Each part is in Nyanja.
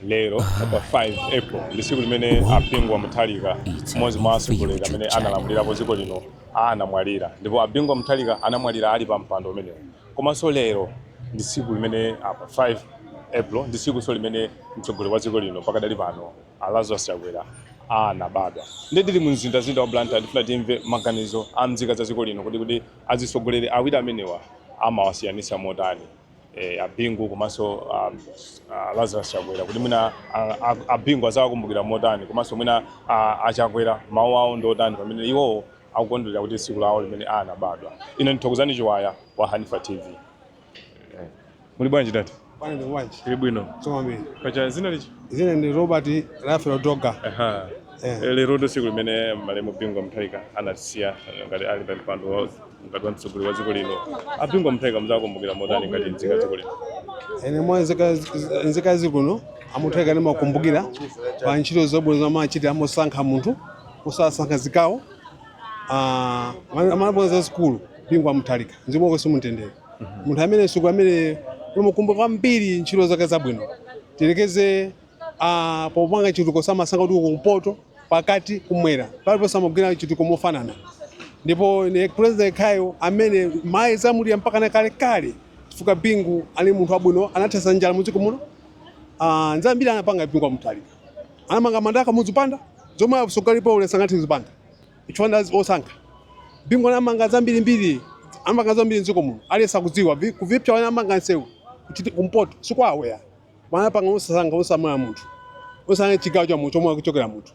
Lero pa 5 April ndi tsiku limene a Bingu wa Mutharika mmodzi mwa atsogoleri amene analamulirapo dziko lino anamwalira ndipo a Bingu wa Mutharika anamwalira ali pa mpando umenewu komanso lero ndi tsiku limene ah, pa 5 April ndi tsikunso limene mtsogoleri wa dziko lino pakadali pano a Lazarus Chakwera anabadwa ndili mu mzindazinda wa Blantyre ndifuna timve maganizo a nzika za dziko lino kuti kuti azitsogoleri awiri amenewa amawasiyanitsa motani eh, abingu komanso ah, ah, lazarus chakwera kuti mwina ah, ah, abingu azawakumbukira motani komanso mwina ah, achakwera mawu awo ndi otani pamene iwowo akukondwerera kuti tsiku lawo limene anabadwa ine ndithokozani chiwaya wa hanifa tv muli bwanji tati Bwana wanji. tili bwino Soma mbili. kaya dzina Dzina ndi Robert Raphael Doga. Aha. Eh. lero ndi tsiku limene malemu bingu mutharika anatisiya ngati ali pa mpando wa ngati mtsogoleri wa dziko lino a bingu mutharika mudzawakumbukira motani ngati nzika ya dziko lino ine monga nzika- nzika ya dziko lino a mutharika ndimawakumbukira pa ntchito zabwino zomwe amachita amosankha munthu osasankha zigawo Ah, amene- amene abwera zazikulu bingu wa mutharika mzimu wake uuse mumtendere munthu amene siku amene ulimukumbuka kwambiri ntchito zake zabwino tiyerekeze a popanga chitukuko samasankha kuti kumpoto pakati kumwera paliponse amagwira chitukuko mofanana ndipo ndi president yekhayo amene mayi zamulira mpaka na kalekale chifukwa bingu ali munthu wabwino anathetsa njala mudziko muno Ah, zambiri anapanga bingu wa mutharika anamanga mandaka muzipanda zomwe asogalipo ule sangathi zipanda chifukwa osankha bingu anamanga zambirimbiri anamanga zambiri mdziko muno aliyense akudziwa vi- kuvipsa anamanga nsewu kuchiti kumpoto si kwawo ya amapanga osasankha osaona munthu osasankha chigawo cha munthu chomwe akuchokera munthu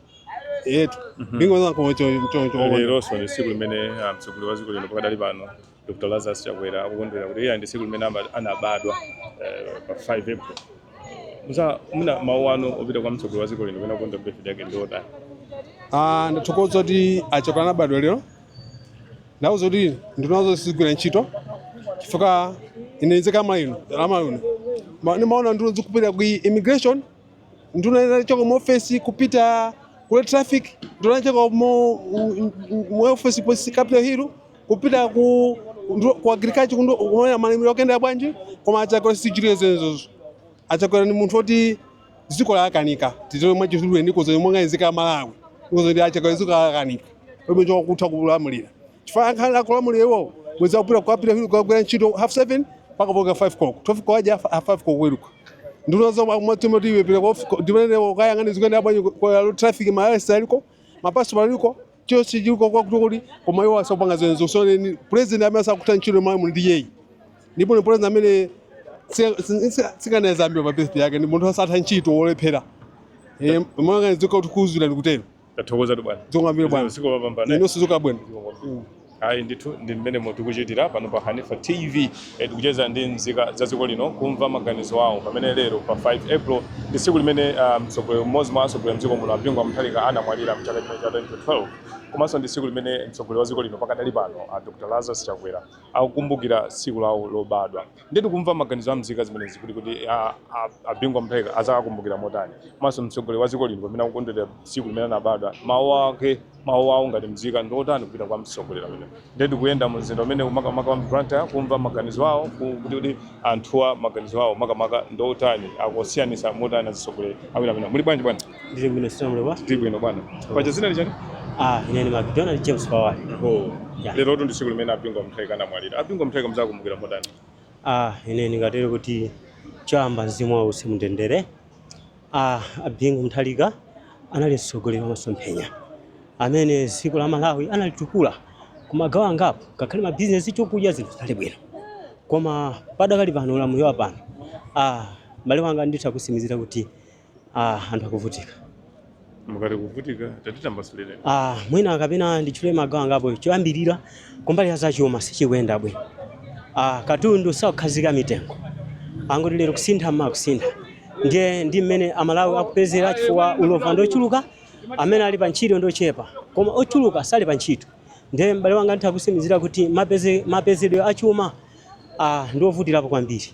yetu ndingoza kuchoncho leronso ndi tsiku limene ah, mtsogoleri wa dziko lino pakadali pano dr lazarus chakwera akukondwera kuti iye ndi tsiku limene ama- anabadwa eh, pa 5 april musa muna mawu anu opita kwa mtsogoleri wa dziko lino pamene akukondwa birthday yake ndi otani Ah, ndathokoza kuti achakwera anabadwa lero ndauza kuti nduna zawo sizigwira ntchito chifukwa ine nzika ya malawi ino Ma- ndimaona nduna zikupita ku immigration nduna inachoka mu ofesi kupita ku road traffic nduna inachoka mu u- u- mu ofesi polisi capital hill kupita ku ndu- ku agriculture kundu- kumaona malimiro akuyenda bwanji koma achakwera sachita zimenezozo achakwera ni munthu oti dziko lawakanika titero mwa chizulu ndi kozo monga nzika malawi kozo ndi acha kazo lawakanika pomwe akutha kulamulira chifukwa ankhala kulamulira iwo mwezi wapita ku capital hill kugwira ntchito half 7 mpaka 5 koloko tofika waje half 5 koloko aweruka nduna zawo mwati mwati iwe pita kwa ndimene wo kayang'ane zikuyenda bwanji kwa traffic ma arrest aliko mapaso aliko Chonsecho chili chakuti kodi koma iwo asakupanga zimenezo so ndi president amene asakutha ntchito mwa munthu ndi iyeyu ndipo ndi president amene tsikana zambiwa pa birthday yake ndi munthu asatha ntchito wolephera Eh, mwanga dziko kuti kuuzira ndikutero tathokozatu bwana zikomo kwambiri bwana tsiku lopambana inonso tsiku labwino Zikomo kwambiri. Ayi ndithu ndi mmenemo tikuchitira pano pa Hanifa TV eh, tikucheza ndi mzika za dziko lino kumva maganizo awo pamene lero pa 5 April ndi tsiku limene ah, mtsogoleri mmodzi mwa atsogoleri mdziko muno Bingu wa Mutharika anamwalira mchaka chimenechi cha 2012 komanso ndi tsiku limene mtsogoleri wa dziko lino pakadali pano a Dr. Lazarus Chakwera akukumbukira tsiku lawo lobadwa. Ndiye tikumva maganizo a mzika zimenezi kuti kodi a, a, a Bingu Mutharika adzawakumbukira motani komanso mtsogoleri wa dziko lino pamene akukondwerera tsiku limene anabadwa mawu ake mawu awo ngati mzika ndi otani kupita kwa mtsogoleri ameneyu ndiye tikuyenda mu mzinda umenewu makamaka wa Blantyre kumva maganizo awo ku- kuti kuti anthuwa maganizo awo makamaka ndi otani akusiyanisa motani azitsogoleri awiri amenewa muli bwanji bwana Ndili bwino kaya muli bwanji. Ndili bwino bwana. Paja dzina ndi chani? Ah, ine ndi McDonald James Power. Oh. Yeah. Lerotu ndi tsiku limene a Bingu Mutharika anamwalira. A Bingu Mutharika mudzawakumbukira motani. Ah, ine ningatero kuti choyamba mzimu wawo uuse mumtendere. Ah, a Bingu Mutharika anali mtsogoleri wa masomphenya amene dziko la Malawi analitukula kumagawo angapo ngakhale mabizinesi chokudya zinthu zinali bwino koma padakali pano ulamuliro wa pano ah, mbale wanga nditha kukutsimikizira kuti Ah, anthu akuvutika mukati kuvutika tatitambasulireni ah, mwina kapena nditchule magawo angapo choyambirira kumbali ya zachuma sichikuyenda bwino ah, katundu sakukhazikika mitengo angoti lero kusintha mawa kusintha ndiye ndi mmene amalawi akupezera chifukwa ulova ndi ochuluka amene ali pa ntchito ndi ochepa koma ochuluka sali pa ntchito ndiye m'bale wanga nditha kukutsimikizira kuti mapeze- mapezedwe achuma ah, ndi ovutirapo kwambiri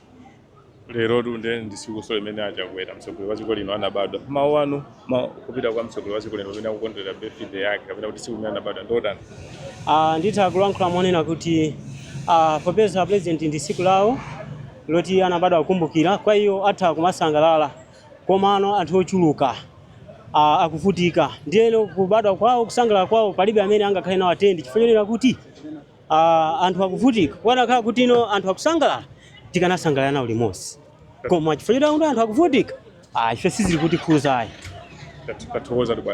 lerotu ndiye ndi tsikunso limene a Chakwera mtsogoleri wa dziko lino anabadwa mawu anu ma, kupita kwa mtsogoleri wa dziko lino pamene akukondwerera birthday yake kapena kuti tsiku limene anabadwa ndotani Ah, nditha kulankhula monena kuti ah, popeza a president ndi tsiku lawo loti anabadwa akukumbukira kwa iwo atha kumasangalala komano anthu ochuluka ah, akuvutika ndiyeno kubadwa kwawo kusangalala kwawo palibe amene angakhale nawo attend chifukwa chonena kuti uh, anthu akuvutika kukanakhala kuti ino anthu akusangalala tikanasangalala nawo limodzi koma chifukwa chakuti anthu akuvutika ah, ife sizili kutikhudza ayi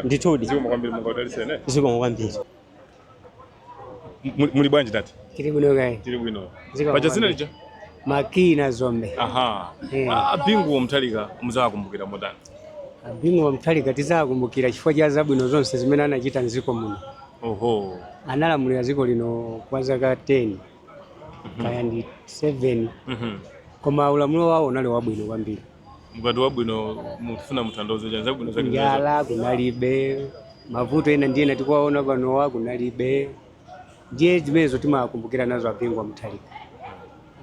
ndithudi zikomo kwambiri muli bwanji tate tili bwino kaya tili bwino paja dzina lija McKinnon Dzombe aha yeah. a Bingu Mutharika mudzawakumbukira motani A Bingu wa Mutharika tidzakumbukira chifukwa cha zabwino zonse zimene anachita mdziko muno. Oho. Analamulira dziko lino kwa zaka 10 kaya ndi 7 Mhm. koma ulamulo wawo unali wabwino kwambiri. Mukati wabwino mufuna kuthandauza chani zabwino zake. Njala kunalibe, mavuto ena ndi ena tikuwaona panowa kunalibe. ndiye zimenezo timakumbukira nazo a Bingu wa Mutharika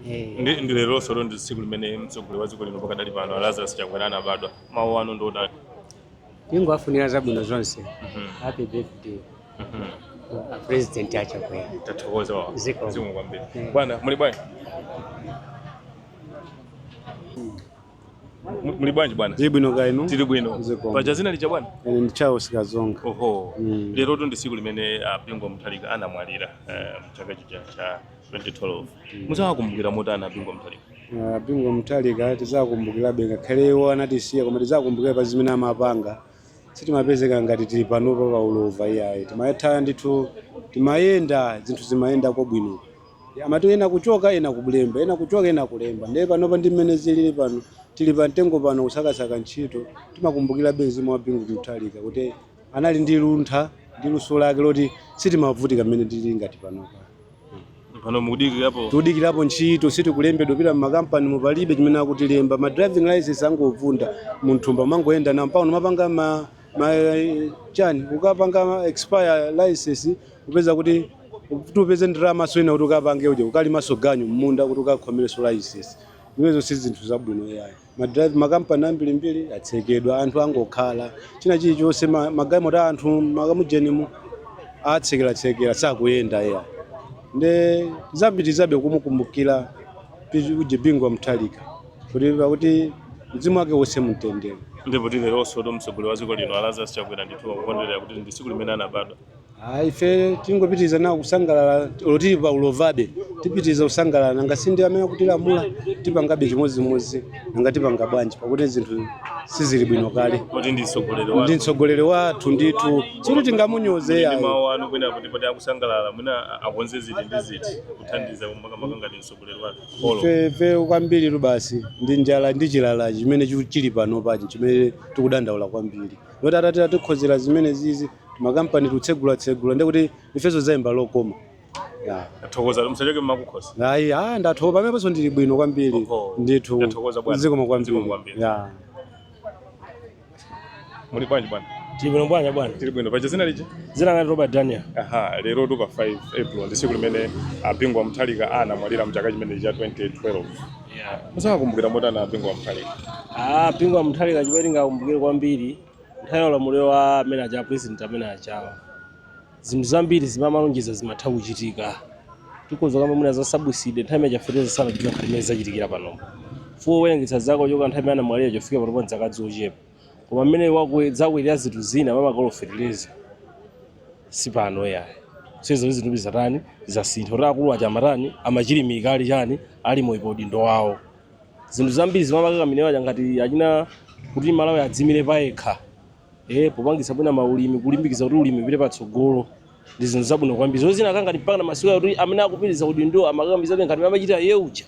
Eh. ndi ndi leronso lero ndi tsiku limene mtsogoleri wa dziko lino pakadali pano a lazarus chakwera anabadwa mawu anu ndi otani tingowafunira zabwino zonse happy birthday a president achakwera tathokoza wawa Ziko. zikomo kwambiri Eh. bwana muli bwanji Muli bwanji bwana? Tili bwino kaya inu? Tili bwino. Zikomo. Paja zina lija bwana? Ine ndi Charles Kazonga. Oho. Mm. Lerotu ndi tsiku limene a Bingu wa Mutharika anamwalira eh, mchaka chija cha 2012. Muzawakumbukira motani a Bingu wa Mutharika? Ah, Bingu wa Mutharika tizakumbukirabe ngakhale iwo anatisiya koma tizakumbukira pa zimene amapanga sitimapezeka ngati tili panopa pa ulova iyayi timayetha ndithu timayenda zinthu zimayendako bwino Amati ena kuchoka ena kulemba, ena kuchoka ena kulemba ndiye panopa ndi mmene zilili pano tili pa mtengo pano kusakasaka ntchito. Timakumbukirabe mzimu wa Bingu wa Mutharika kuti anali ndi luntha ndi luso lake loti sitimavutika mmene tilili ngati panopa. Pano mukudikirapo Tikudikirapo ntchito sitikulembedwa pita m'makampanimu palibe chimene akutilemba ma driving license angovunda munthumba mangoyenda nawo mpaka unamapanga ma, ma chani ukapanga expire license kupeza kuti kuti upeze ndalama zoyina kuti ukapange uja ukalimanso ganyu mmunda kuti ukakhomerenso laisesi zimenezo si zinthu zabwino yayi madrive makampani ambirimbiri atsekedwa anthu angokhala china chilichonse ma- magalimoto a anthu mmakamujenimu atsekeratsekera sakuyenda yayi nde tipitirizabe kumukumbukira uja Bingu wa Mutharika kuti pakuti mzimu wake uwuse mumtendere ndipo ndi leronsotu mtsogoleri wa dziko lino a Lazarus chakwera ndithu akukondwerera kuti ndi tsiku limene anabadwa Ah, ife tingopitiriza nawo kusangalala olo tili pa ulovabe tipitiriza kusangalala nanga si ndi amene akutilamula tipangabe chimodzimodzi nanga tipanga bwanji pakuti zinthu sizili bwino kale kuti ndi mtsogoleri ndithu wanu mtsogoleri wathu ndithu sikuti tingamunyoze iyayi mawu anu kwina kuti poti akusangalala mwina akonze ziti ndi ziti kuthandiza makamaka ngati mtsogoleri wanu polo Fe- fe kwambiritu basi ndi njala ndi chilala chimene chu- chili panopachi chimene tikudandaula kwambiri oti atati atikonzera zimene zizi makampani tikutsegula tsegula ndiye kuti ifenso zayenda lokoma Ya. Athokoza msachoke mmakukhosi. ayi ah ndathokoza pameneponso ndili bwino kwambiri Oho. ndithu Ndathokoza bwana. zikomo Zikomo kwambiri kwambiri. Ya. Muli bwanji bwana? tili bwino bwanya bwana Tili bwino. Paja dzina lija? dzina ndi robert daniel Aha, lero tu pa 5 April ndi tsiku limene a Bingu wa Mutharika anamwalira mchaka chimene cha 2012. Muzakumbukira motani a Bingu wa Mutharika. ah Bingu wa Mutharika chimene tingakumbukire kwambiri Nthawi ya ulamuliro wa amene aja president amene ajawa zinthu zambiri zimene amalonjeza zimatha kuchitika tikoza kama mwina za subsidy nthawi imene chafeteza sana chifika nkhani imene zachitikira pano fuo werengesa zako choka nthawi imene anamwalira kufika pano pa dzaka dzochepa koma mmene wakwe zakwelera zinthu zina mamakoloferereza si pano yayi ndizo zizindikiro zoti zasintha kuti akulu aja amatani amachilimika ali chani ali moyo pa udindo wawo zinthu zambiri zimene amakakamira paja ngati achina kuti malawi adzimire payekha e, popangitsa mwina maulimi kulimbikitsa kuti ulimi upite patsogolo ndi zinthu zabwino kwambiri zozina kangati mpaka na masiku kuti amene akupitiriza kuti ndo amakakamirabe ngati amachita iye uja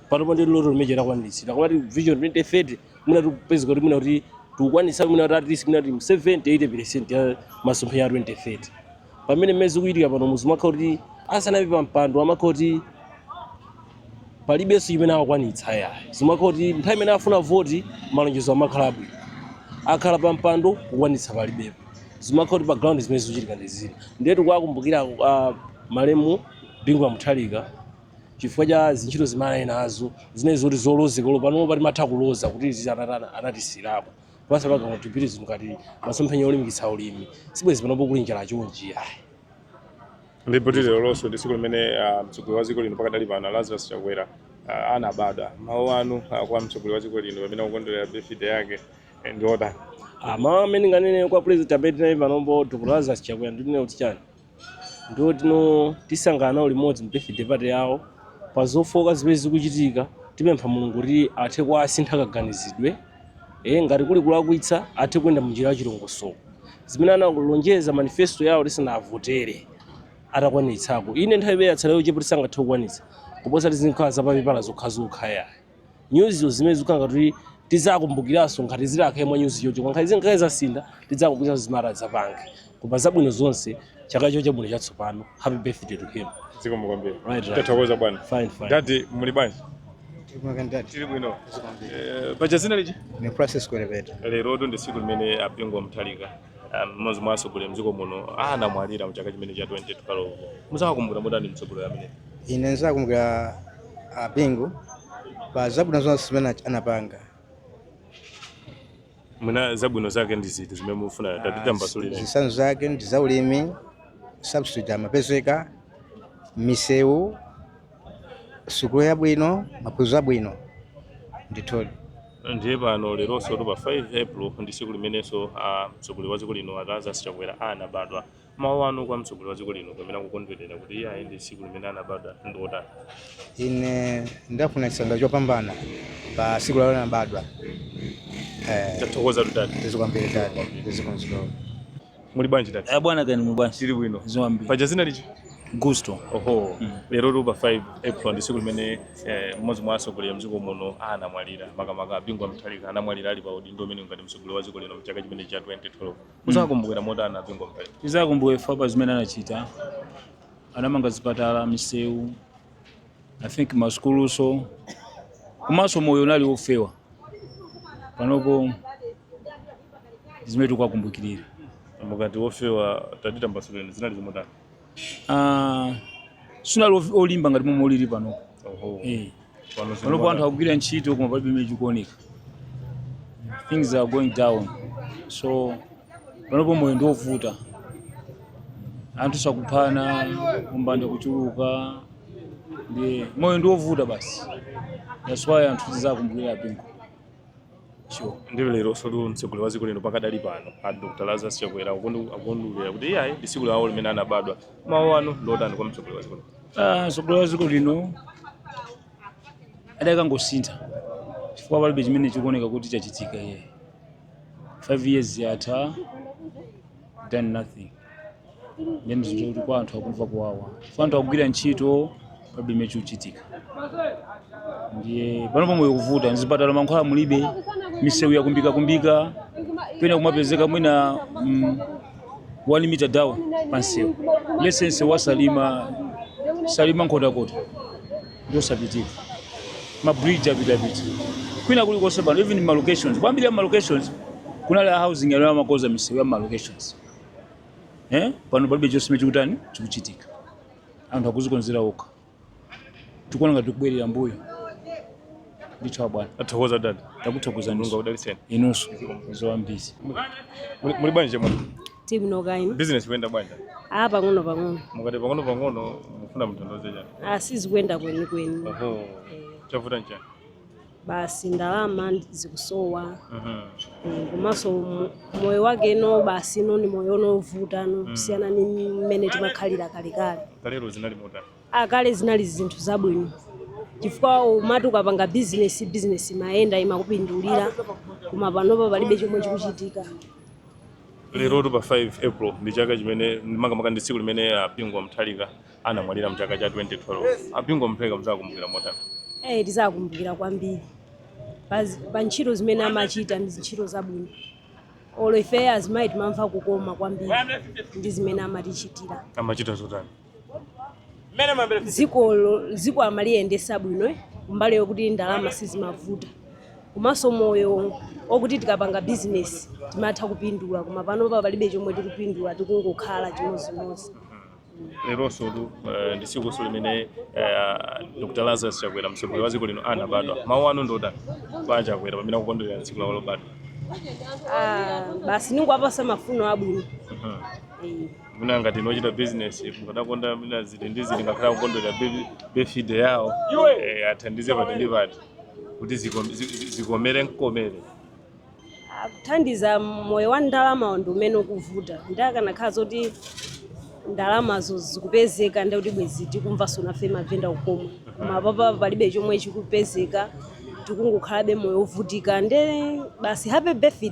panopo ndi loto limene lakwaniritsidwa kumati vision 2030 mwina tikupezeka kuti mwina kuti tikukwanitsa mwina kuti at least mwina kuti 70 80 percent ya masomphenya ya 2030 pamene mmene zikuchitika pano zimakhala kuti asanapite pa mpando amakhala kuti palibenso chimene akwanitsa ya zimakhala kuti nthawi imene afuna voti malonjezo amakhala abwino akhala pa mpando kukwanitsa palibepo zimakhala kuti pa ground zimene zikuchitika ndi zina ndiye tikuwakumbukira ah, malemu bingu wa mutharika chifukwa cha zintchito zimene anali nazo zimene zoti zolozeka lopano poti timatha kuloza kuti zitatana anatisiyirapo Pazapaka kupitiriza zinthu ngati masomphenya olimbikitsa ulimi sibwezi panopo kuli njala chonchi ayi ndipo ndi leronso ndi tsiku limene ah, mtsogoleri wa dziko lino pakadali pano lazarus chakwera ah, anabadwa mawu anu ah, kwa mtsogoleri wa dziko lino pamene akukondwerera birthday yake eh, ndi otani Ah, mawu amene ndinganene kwa president amene tili naye panopo dr lazarus chakwera ndinena kuti chani ndithu tisangalala nawo limodzi mu birthday party yawo pa zofooka zimene zikuchitika tipempha mulungu kuti athe kuwasintha kaganizidwe e, ngati kuli kulakwitsa athe kuyenda mu njira ya chilongosoko zimene analonjeza manifesto yawo tisanawavotere atakwanitsako inde nthawi imene yatsala yochepa oti sangathe kukwanitsa kuposa kuti zizikhala zapapepala zokhazokha yayi nyuzizo zimene zikukhala kuti tizakumbukiranso ngati zitakhale mwa nyuzi chocho kwa nkhani zinkhale zasintha tidzakumbukiranso zimene adzapange koma zabwino zonse chaka chabwino chatsopano happy birthday to him zikomo kwambiri Right, right. tathokoza bwana fine fine dadi muli bwanji tili bwino Eh, paja dzina lija ndine process kwelebeta lero ndi tsiku limene a Bingu wa Mutharika mmodzi mwa atsogoleri mdziko muno anamwalira mchaka chimene cha 2012 muzawakumbukira motani mtsogoleri amene ine ndizakumbukira abingu pa zabwino zonse zimene anapanga mwina zabwino zake ndi ziti zimene mufuna tatitambasulireni zitsanzo zake ndi zaulimi subsidy amapezeka misewu sukulu yabwino maphunziro abwino ndithudi ndiye pano leronso pa 5 april ndi tsiku limenenso a mtsogoleri wa dziko lino a Lazarus Chakwera anabadwa mawu anu kwa mtsogoleri wa dziko lino pamene akukondwerera kuti iyayi ndi tsiku limene anabadwa ndi otani ine ndawafunira chisangalalo chopambana pa siku lawo anabadwa eh, tathokoza dad zikomo kwambiri dad zikomo zikomo Muli bwanji tati? Eh, bwino kaya inu muli bwanji? Tili bwino. Zikomo kwambiri. Paja zina ndani? Gusto. Oho. Mm. Lerotu pa 5 April ndi siku limene eh, mmodzi mwa atsogoleri mdziko muno anamwalira makamaka a Bingu wa Mutharika anamwalira ali pa udindo omwe ngati mtsogoleri wa dziko lino mchaka chimene cha 2012. Muzakumbukira motani a Bingu wa Mutharika? Tizawakumbukira chifukwa cha zimene anachita. Anamanga zipatala, misewu, i think masukuluso komanso moyo unali wofewa panopo zimene tikuwakumbukirira mukati wofewa tatitambasulireni zinali zimotani Ah, sunali of- olimba ngati momwe ulili panopo Oho. Eh. Pano zili panopo anthu motani? akugwira ntchito koma palibe chimene chikuoneka things are going down so panopo moyo ndi wovuta anthu akuphana umbanda kuchuluka ndi moyo ndi wovuta basi that's why anthu tizakumbukira bingu sure ndiye lerosotu mtsogoleri wa dziko lino pakadali pano a dr lazarus chakwera akukondwe- akukondwerera kuti iyayi ndi tsiku lawo limene anabadwa mawu anu ndotani kwa mtsogoleri wa dziko lino Ah, mtsogoleri wa dziko lino adakangosintha chifukwa palibe chimene chikuoneka kuti chachitika iye 5 years yatha done nothing ndiye zinthu kuti kwa anthu akumva kuwawa chifukwa anthu akugwira ntchito palibe chimene chikuchitika ndiye panopo moyo ukuvuta mzipatala mankhwala mulibe misewu yakumbika kumbika pena kumapezeka mwina mm, one meter down pansewu let's say msewu wa salima salima nkhotakota ndiosapitika ma bridge apita pita kwina kuli konse pano even ma locations kwambiri ya ma locations kunali a housing ya uko amakoza misewu ya ma locations eh pano palibe chonse chimene chikutani chikuchitika anthu akuzikonzera okha tikuona ngati tikubwerera mbuyo ndithu bwana tathokoza dad takuthokozani mulungu akudalitseni inunso zikomo kwambiri muli bwanji chemwali Tili bwino kaya inu? Business ikuyenda bwanji? Ah, pang'ono pang'ono. Mukati pang'ono pang'ono mufuna mutandiuze chani? Ah, sizikuyenda kweni kweni. Oho. Chavuta nchani? Basi ndalama ndi- zikusowa. Mhm. Mm, komanso mo- moyo wake no basi no ni moyo wovuta kusiyana ni mmene timakhalira kalekale Kalero zinali motani? A kale zinali zinthu zabwino chifukwa umati ukapanga bizinesi bizinesi imayenda imakupindulira koma panopa palibe chomwe chikuchitika Lerotu pa 5 April ndi chaka chimene makamaka ndi tsiku limene a Bingu wa Mutharika anamwalira mu chaka cha 2012. A Bingu wa Mutharika mudzakumbukira motani? Eh, tizakumbukira kwambiri pa zi- pa ntchito zimene amachita ndi ntchito zabwino olo ife azimayi timamva kukoma kwambiri ndi zimene amatichitira Amachita zotani? dziko dziko amaliyendesa bwino eh, kumbali yokuti ndalama sizimavuta komanso moyo okuti tikapanga bizinesi timatha kupindula koma panopa palibe chomwe tikupindula tikungokhala chimodzimodzi leronsotu eh, ndi tsiku limene eh, dr lazarus chakwera mtsogoleri wa dziko lino anabadwa mawu anu ndotani kwa a chakwera pamene akukondwerera tsiku lawo lobadwa Ah, basi ndingowapatsa mafuno abwino Mhm. Eh, mwina ngati inu ochita business mukadakonda mwina ziti ndi ziti ngakhale akukondwera birthday yawo eh, athandize pati ndi pati kuti ziko- zi- zi- zikomere mkomere akutithandiza moyo wa ndalama ndi umene ukuvuta nde akanakhala zoti ndalamazo zikupezeka ndi kuti bwezi tikumvanso nafe mavenda kukoma koma panopa palibe chomwe chikupezeka tikungokhalabe moyo wovutika nde basi happy birthday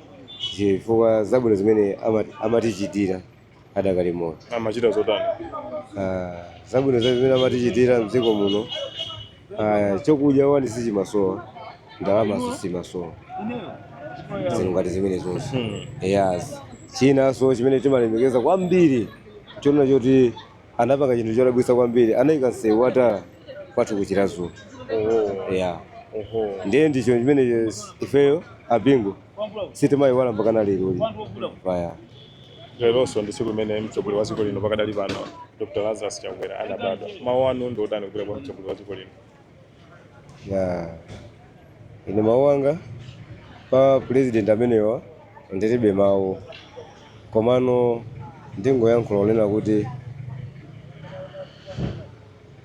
chifukwa zabwino zimene ama- amatichitira adakali moyo amachita zotani Ah, zabwino za zimene amatichitira mdziko muno ah, chokudya one sichimasowa ndalama sizimasowa zinthu ngati zimene zonse Hmm. yes chinanso chimene timalemekeza kwambiri chonena choti anapanga chinthu chodabwitsa kwambiri anaika msewu wa tala kwathu ku chiradzulu oh. yeah. ndiye ndicho chimene ifeyo a bingu sitimawayiwala mpaka na lero lino vaya leronso ndi tsiku limene mtsogoleri wa dziko lino pakadali pano dr lazarus chakwera anabadwa mawu anu ndi otani kupita kwa mtsogoleri wa dziko lino ya ine mawu anga pa president amenewa ndilibe mawu komano ndingoyankhula kunena kuti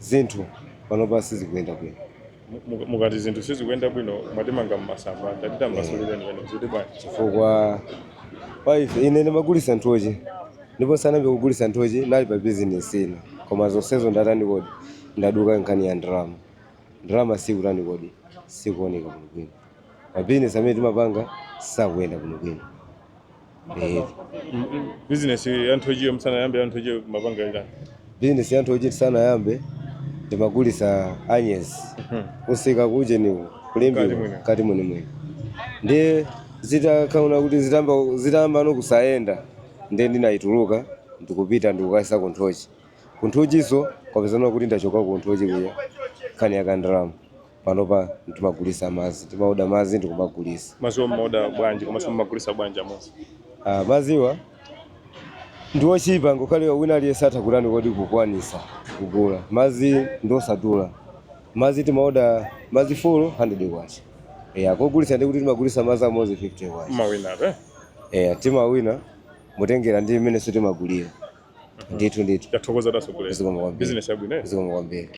zinthu panopa sizikuyenda bwino Mu- mu- mukati zinthu sizikuyenda bwino mwatimanga mmasamba tatitambasulireni pano kuti bwanji chifukwa kwa ife ine ndimagulisa nthochi ndipo ndisanayambe kugulisa nthochi ndinali pa bizinesi ina koma zonsezo ndatani kodi Ndaduka nkhani ya ndalama. Ndalama sikutani kodi? Sikuoneka bwinobwino. Mabizinesi amene timapanga sakuyenda bwinobwino. Ehe. bizinesi ya nthochiyo musanayambe ya nthochiyo mumapanga itani Bizinesi ya nthochi ndisanayambe ndimagulisa anyezi kumsika kujeniko ku Limbe m'kati mwenimweni ndiye zitakaona kuti zitamba zitayambano kusayenda ndiye ndinayituluka ndikupita ndikukayisa ku nthochi Ku nthochinso kwapezana kuti ndachoka ku nthochi kuja nkhani ya kandalama. Panopa timagulisa madzi, timaoda madzi ndikumagulisa. Madziwo mmaoda bwanji komanso mumagulisa bwanji amodzi? Ah, madziwa ndi ochipa ngakhale wina aliyense atha kutani kodi kukwanisa kugula. Madzi ndi osadula. Madzi timaoda madzi folo handiredi kwacha. Eya, kogulisa ndiye kuti timagulisa madzi amodzi fifite kwacha. Mmawinabe? Eya, timawina. motengera ndi mmenenso timagulira ndithu ndithu Tathokoza atsogoleri. zikomo kwambiri Business yabwino. eh? zikomo kwambiri